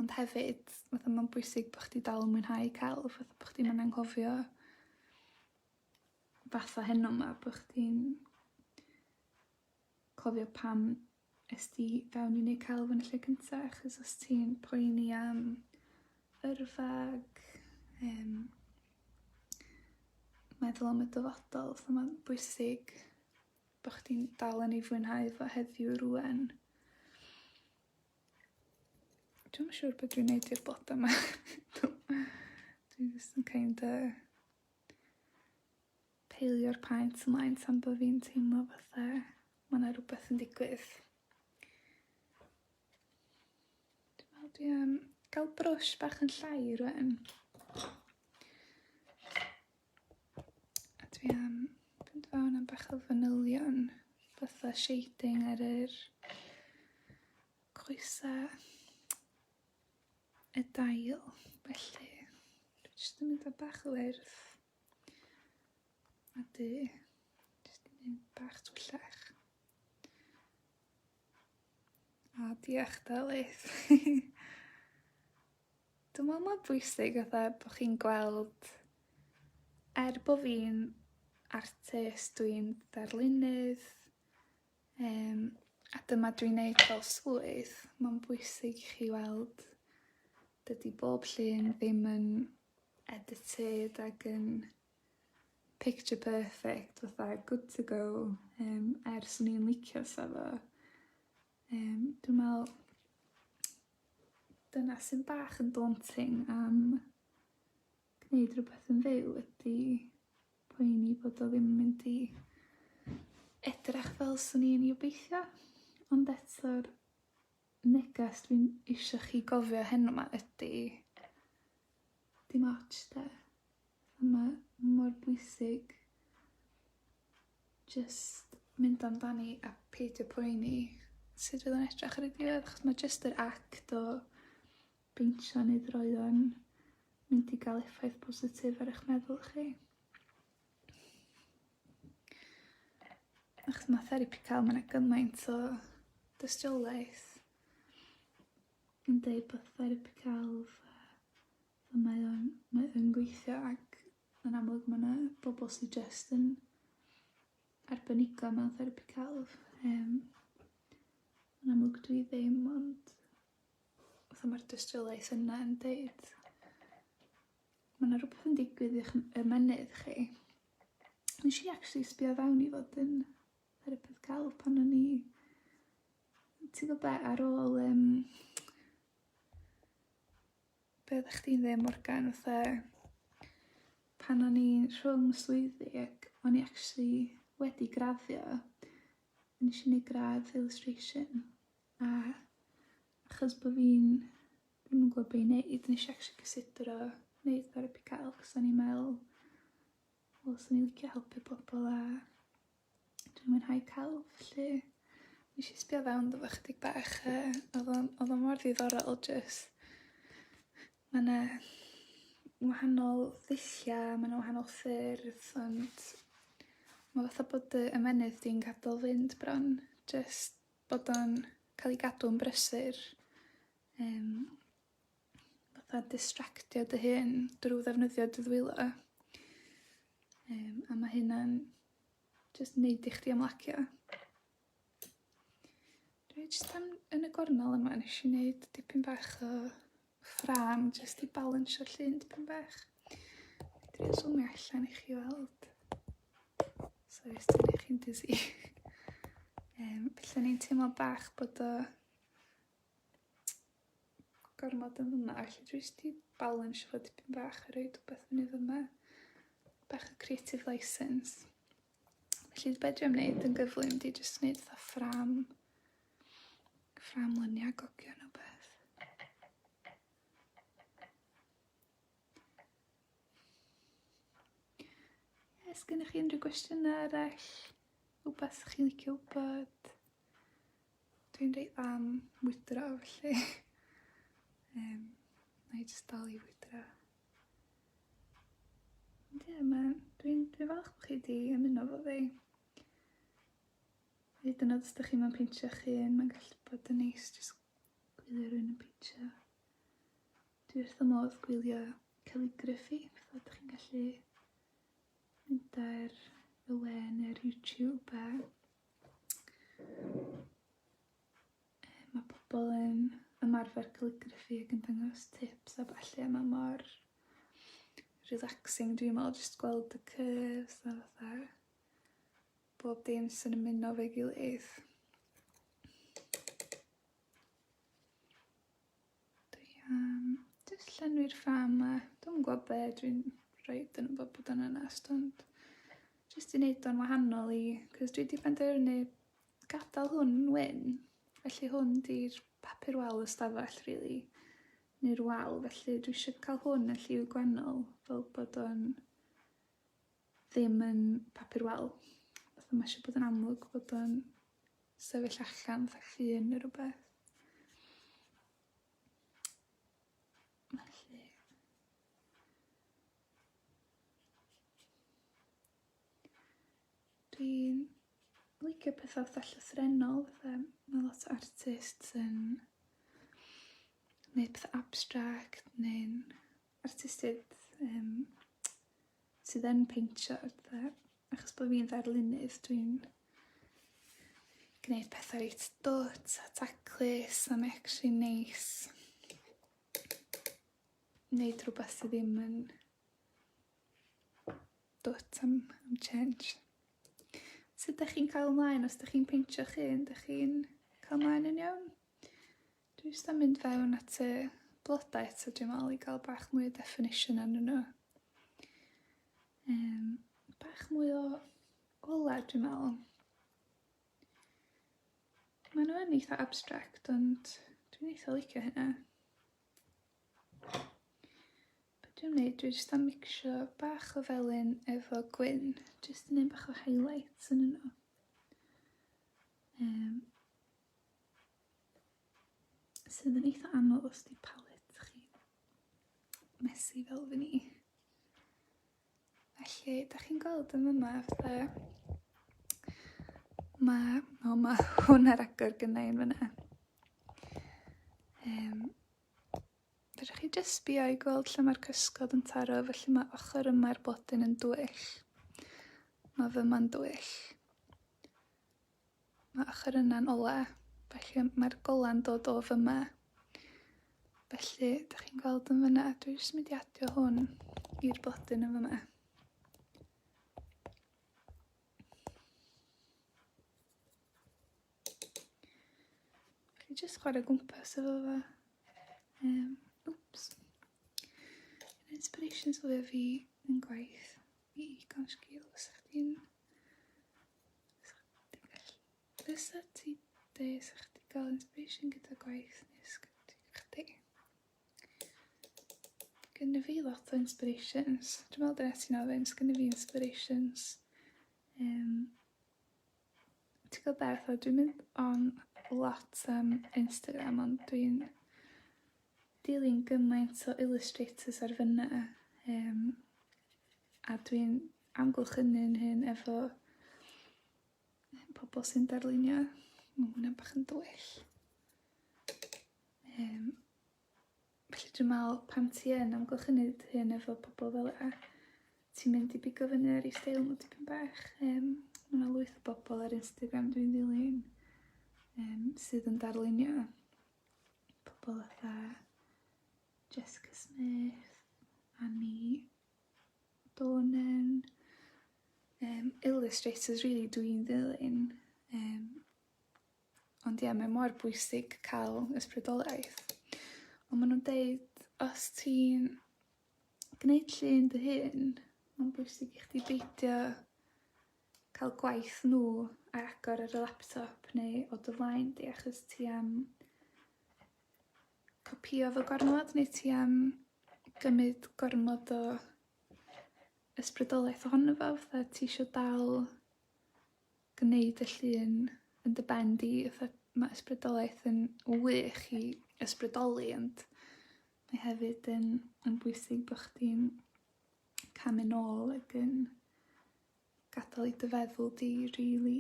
Ond hefyd fatha ma'n bwysig bo' chdi dal yn mwynhau celf fatha bo' chdi'm yn anghofio fatha heno 'ma bo' chdi'n cofio pam es di fewn i neud celf yn y lle cynta achos os ti'n poeni am yrfa ag yym meddwl am y dyfodol so ma'n bwysig bo' chdi'n dal yn ei fwynhau fo heddiw rŵan. Dwi'm yn siŵr be' dwi'n neud i'r bloda 'ma. Dwi jyst yn kind o peilio'r paent ymlaen tan bo' fi'n teimlo fatha ma' 'na rwbeth yn digwydd. Dwi me'wl dwi am ga'l brwsh bach yn llai rŵan. A dwi am fynd fewn am bach o fanylion, fatha shading ar yr coesa y dail, felly dwi jyst yn mynd â bach o wyrdd a du, jyst yn mynd bach twyllach. A diolch Delyth! Dwi me'wl ma'n bwysig fatha bo' chi'n gweld er bo' fi'n artist dwi'n ddarlunydd yym a dyma dwi'n neud fel swydd ma'n bwysig i chi weld dydi bob llun ddim yn edited ag yn picture perfect fatha good to go yym er swn i'n licio sa fo yym dwi me'wl Dyna sy'n bach yn daunting am gwneud rhywbeth yn fyw ydy poeni bod o ddim yn mynd i edrach fel swn i'n 'i obeithio, ond eto'r neges dwi'n isio chi gofio heno 'ma ydi dim ots 'de, a ma' mor bwysig jyst mynd amdani a peidio poeni sut fydd o'n edrach ar y diwedd achos ma' jyst yr act o beintio neu droeon mynd i ga'l effaith positif ar 'ych meddwl chi. Achos ma' therapi ca'l ma' 'na gymaint o dystiolaeth yn deud bod therapi celf a Fel mae o'n, mae o'n gweithio ac yn amlwg mae yna bobl sydd jyst yn arbenigo mewn therapi celf. Um, yn amlwg dwi ddim ond fatha mae'r dystiolaeth yna yn deud mae yna rhywbeth yn digwydd i'ch ymenydd chi. Nes i actually sbio fewn i fod yn therapydd cael pan o'n i ti'n gwybod ar ôl um, Be oeddech chdi'n ddeud Morgan fatha pan o'n i'n rhwng y swyddi ac o'n i actually wedi graddio nes i neud gradd illustration a achos bod fi'n ddim yn gwybod be' i neud nes i actually cysidro neud therapi celf achos o'n i'n meddwl wel swn i'n licio helpu pobl a Dwi'n mwynhau celf 'lly. Nesh i sbio fewn iddo fo chydig bach yy odd o'n odd o mor ddiddorol jyst ma' 'na wahanol ddullia ma' 'na wahanol ffyrdd ond ma' fatha bod dy ymennydd di'n gadel fynd bron jyst bod o'n ca'l 'i gadw'n brysur yym. fatha distractio dy hun drw ddefnyddio dy ddwylo. Yym a ma' hynna'n jyst neud i chdi ymlacio. Dwi jyst am yn y gornel yma nes i neud dipyn bach o ffrâm jyst i balansio'r llun dipyn bach. Dwi yn zoomio allan i chi weld. Sori os dwi'n eich chi'n dizzy. um, felly ni'n teimlo bach bod o gormod yn fyma, felly dwi jyst 'di balansio fo dipyn bach a roid rwbeth fyny fyma. Bach o creative license. Felly be dwi am wneud yn gyflym di jyst wneud fatha ffram, ffram lyniau gogio neu beth. Yes, gennych chi unrhyw gwestiynau arall? Rhywbeth chi'n licio wybod? Dwi'n reit dda am mwydro felly yym nâi jyst dal i fwydro. Ond ie ma' dwi'n dwi'n falch bo' chi 'di ymuno efo fi. Hyd yn o'd os 'dych chi'm yn peintio'ch hun ma'n gallu bod yn neis jyst gwylio rywun yn peintio. Dwi wrth fy modd gwylio calligraffi, fatha 'dych chi'n gallu mynd ar y we ne'r YouTube a Mae pobl yn ymarfer calligraffi ac yn dangos tips a ballu a mae mor relaxing dwi'n meddwl jyst gweld y curves a fatha bob dim sy'n ymuno fe gilydd. Dwi am jyst llenwi'r ffrâm 'ma. Dwi'm yn gw'o' be' dwi'n roid yno fo bod yn onest ond jyst i neud o'n wahanol i 'c'os dwi 'di penderfynu gadal hwn yn wyn felly hwn 'di'r papur wal y stafell rili neu'r wal felly dwi isio ca'l hwn yn lliw gwennol fel bod o'n ddim yn papur wal. Fatha mae eisiau bod yn amlwg bod o'n sefyll allan fatha llun neu rhywbeth. Felly. Dwi'n licio pethau fatha llythrenol, fatha mae lot o artists yn neud pethau abstract neu'n artistiaid yym sydd yn peintio a petha achos bo' fi'n ddarlunydd dwi'n gneud petha reit dwt a taclus a mae actually neis neud rwbath sy ddim yn dwt am am change. Sut 'dach chi'n cario mlaen os 'dach chi'n peintio'ch hun 'dach chi'n ca'l mlaen yn iawn? Dwi jyst am mynd fewn at y blodau eto dwi'n meddwl i gael bach mwy o definition arnyn nhw. Um, bach mwy o ola dwi'n meddwl. Mae nhw yn eitha abstract ond dwi'n eitha licio hynna. Be dwi'n gwneud? Dwi jyst am mixio bach o felyn efo gwyn. Jyst yn un bach o highlights yn yno. Um, Sydd yn eitha anodd os di palet chi messy fel fy ni. Felly, da chi'n gweld yn yma, fe... Mae, o mae hwn ar agor gynnau yn fyna. Um, Fedrwch chi jyst sbio i gweld lle mae'r cysgod yn taro, felly mae ochr yma'r blodyn yn dwyll. Mae fy ma'n dwyll. Mae ochr yna'n ola, felly mae'r gola'n dod o fyma. Felly, da chi'n gweld yn fyna, dwi jyst mynd i adio hwn i'r blodyn yn fyma. Felly, jyst chwarae gwmpas efo fe. Um, oops. Yn inspirations o fi yn gwaith i Igon Sgil, os ydych chi'n Fysa ti de, sa chdi gael inspiration gyda gwaith neu sgriptiau chdi. Gynna fi lot o inspirations. Dwi'n meddwl dyna ti'n ofyn, gynna fi inspirations. Um, ti'n gwybod beth, o, dwi'n mynd on lot am Instagram, ond dwi'n dilyn gymaint o illustrators ar fyna. Um, a dwi'n amgylchynu'n hyn efo pobl sy'n darlunio. Mae hwnna'n bach yn dwyll. Um, felly dwi'n meddwl pan ti yn amgylchynu dy hun efo pobl fel yna, ti'n mynd i bigo fyny ar ei steil nhw tipyn bach. Um, mae yna lwyth o bobl ar Instagram dwi'n ddilyn um, sydd yn darlunio. Pobl fatha Jessica Smith, Annie Bo'n yn um, illustrators really dwi'n ddilyn um, ond ie yeah, mae mor bwysig cael ysbrydoliaeth ond maen nhw'n deud os ti'n gwneud llun dy hun mae'n bwysig i chdi beidio cael gwaith nhw ar agor ar y laptop neu o dy flaen di achos ti am Copïo fo gormod neu ti am gymryd gormod o ysbrydoliaeth ohono fo fatha ti isio dal gneud y llun yn dy ben di fatha ma' ysbrydoliaeth yn wych i ysbrydoli ond mae hefyd yn yn bwysig bo' chdi'n camu nôl ag yn gadal i dy feddwl di rili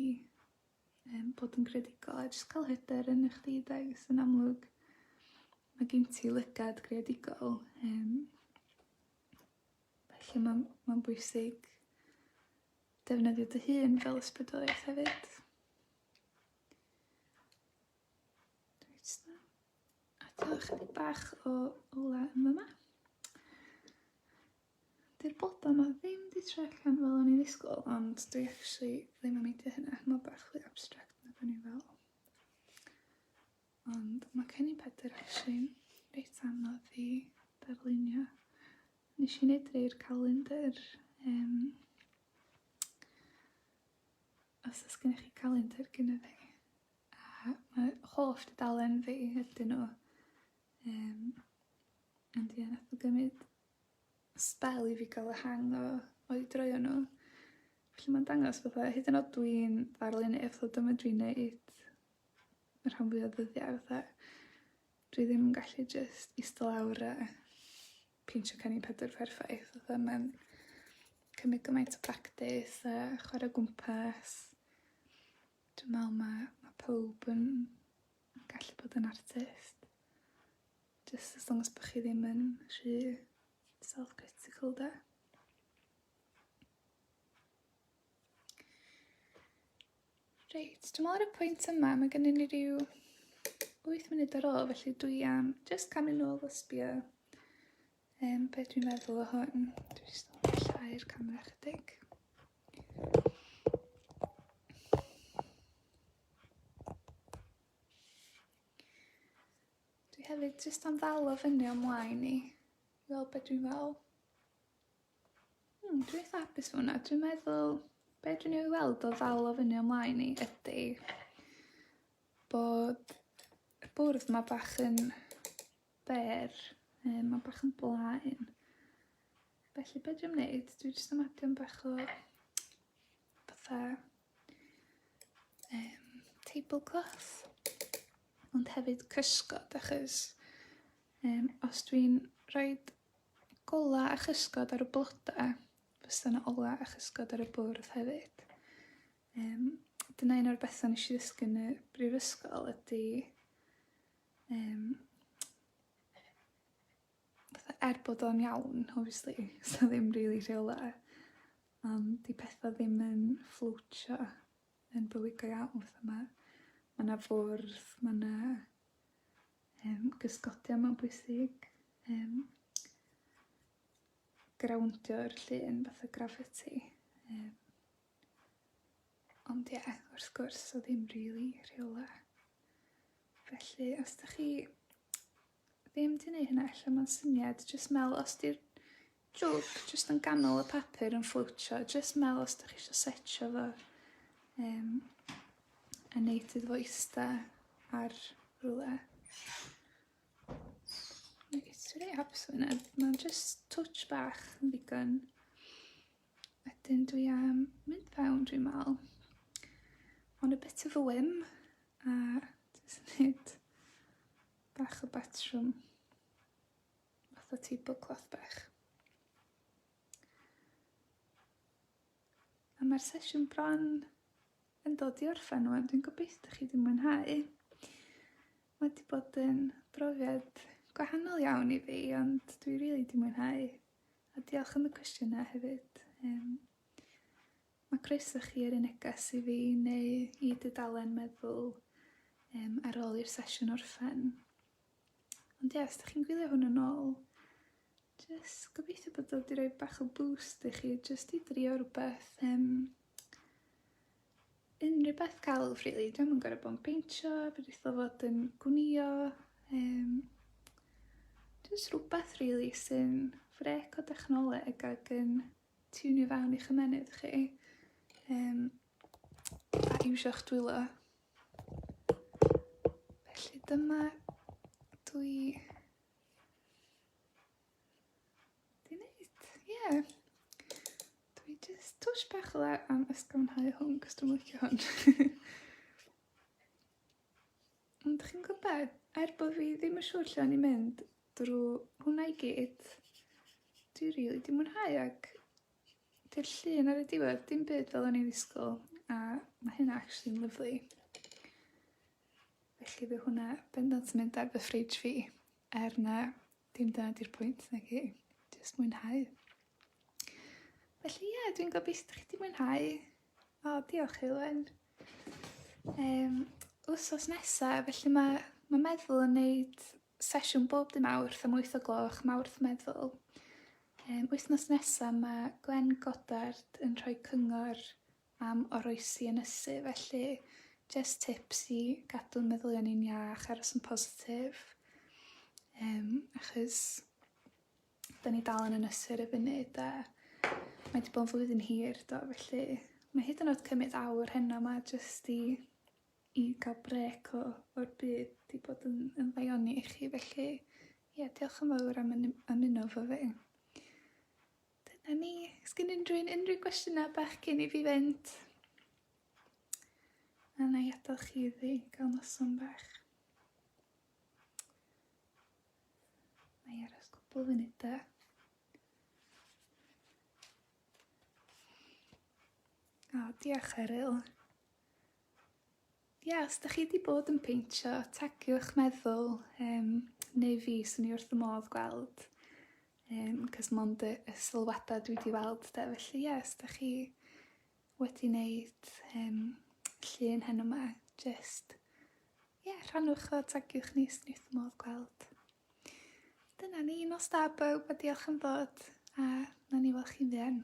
Yym, bod yn greadigol a jyst cael hyder yn eich di, does? Ys yn amlwg, mae gen ti lygad greadigol, Um, felly mae'n ma bwysig defnyddio dy hun fel ysbrydoliaeth hefyd. A to chydig bach o ola yn yma. Dy'r blodau 'ma ddim 'di troi allan fel o'n i ddisgwyl, ond dwi actually ddim yn meindio hynna, mae bach fwy abstract na o'n i'n feddwl. Ond mae Cennin Pedr actually'n reit anodd i darlunio. Nes i wneud rei'r calendr, um, os oes gennych chi calendr gyda fi, a mae holl dudalen fi ydyn nhw. Um, ond ie, nath nhw gymryd sbel i fi ga'l y hang o o'u droeon n'w. Felly ma'n dangos fatha hyd yn o'd dwi'n ddarlun erthygl dyma dwi'n neud y rhan fwya o ddyddia fatha dwi ddim yn gallu jyst ista lawr a peintio Cennin Pedr perffaith fatha ma'n cymryd gymaint o practis a chware o gwmpas. Dwi me'wl ma' ma' powb yn Mae'n gallu bod yn artist. Just as long as bod chi ddim yn rhy self-critical de. Reit, dwi'n meddwl ar y pwynt yma, mae gennym ni rhyw 8 munud ar ôl, felly dwi am just camu nôl fo sbio um, beth dwi'n meddwl o hwn. Dwi'n just yn llai'r camera chydig. Dwi hefyd jyst am ddal o fyny o'm mlaen i fel be' dwi'n fel. Hmm, dwi eitha hapus fo wnna. Dwi'n meddwl be' dwi'n ei weld o ddal o fyny o'm mlaen i ydi bod y bwrdd 'ma bach yn byr, yy ma' bach yn blaen. Felly be' dwi'n neud dwi jyst am adio 'm bach o fatha um, tablecloth, ond hefyd cysgod, achos um, os dwi'n rhoi gola a chysgod ar y blodau, fysa yna ola a chysgod ar y bwrdd hefyd. Um, dyna un o'r bethau nes i ddysgu yn y brifysgol ydy um, Fatha er bod o'n iawn obviously sa ddim rili rheole am 'di petha ddim yn fflowtio yn bywyd go iawn fatha ma' ma' 'na fwrdd ma' 'na yym gysgodion ma'n bwysig yym grawndio'r llun fatha graffiti yym ond ie wrth gwrs sa ddim rili rheole felly os 'dach chi ddim di neud hynna ella ma'n syniad jyst mel os di'r jwg jyst yn ganol y papur yn fflwtio jyst mel os dych chi eisiau setio fo um, a neud iddo fo ista ar rhywle. Mae gen ti rei apps yna, mae'n just touch bach yn ddigon. Wedyn dwi am mynd fewn dwi'n mal. On a bit of a whim, a dwi'n neud Bach o batrwm. Fath o tablecloth bach. A mae'r sesiwn bron yn dod i orffen wan. Dwi'n gobeithio chi wedi mwynhau. Mae wedi bod yn brofiad gwahanol iawn i fi, ond dwi rili really wedi mwynhau. A diolch am y cwestiynau hefyd. Um, Mae croeso chi ar y neges i fi neu i dudalen meddwl um, ar ôl i'r sesiwn orffen. Ond ie, yeah, os ydych chi'n gwylio hwn yn ôl, jyst gobeithio bod dod i roi bach o boost i chi, jyst i drio rhywbeth, um, unrhyw beth celf, really. Dwi'n yn gorau bod yn peintio, fe dditho fod yn gwnio, um, jyst rhywbeth, really, sy'n frec o dechnoleg ac yn tiwnio fewn i'ch ymennydd chi um, a iwsio'ch dwylo. Felly dyma dwi di wneud, ie. Yeah. Dwi just twys bach o dda am ysgafnhau hwn, cos dwi'n licio hwn. Ond chi'n gwybod be? Er bod fi ddim yn siŵr lle o'n i'n mynd drwy hwnna i gyd, dwi rili 'di mwynhau ac 'di'r llun ar y diwedd dim byd fel o'n i'n ddisgwyl a ma' hynna actually'n lyfli. Felly bydd hwnna bendant yn mynd ar fy fridge fi, er na dim dyna 'di'r pwynt naci? Jyst mwynhau. Felly ie dwi'n gobeithio 'dych chi 'di mwynhau. O diolch Heulwen. Yym wsos nesa felly mae mae meddwl yn neud sesiwn bob dy Mawrth am 8 o gloch Mawrth meddwl. Yym wythnos nesa mae Gwen Goddard yn rhoi cyngor am oroesi ynysu felly just tips i gadw meddylion i'n iach aros yn positif. Yym achos 'Da ni dal yn ynysu ar y funud 'de. Mae 'di bod yn flwyddyn hir do felly mae hyd yn o'd cymyd awr heno 'ma jyst i i ga'l brêc o o'r byd 'di bod yn yn ddaioni i chi felly ie diolch yn fowr am ynny- ymuno 'fo fi. Dyna ni. Sgin unryw un unryw gwestiyna' bach cyn i fi fynd? A 'nai adal chi iddi ga'l noson bach. Mae ar ys cwpl funudau. O, diolch Eryl. Ia, os da chi wedi bod yn peintio, tagiwch meddwl um, neu fi, swn i wrth y modd gweld. Um, cos mond y, y sylwadau dwi wedi weld da, felly ia, os da chi wedi neud yym llun heno 'ma jyst ie rhannwch o tagiwch ni 'swn i wrth fy modd gweld. Dyna ni, nos da bawb a diolch am ddod a nawn ni weld chi'n fuan.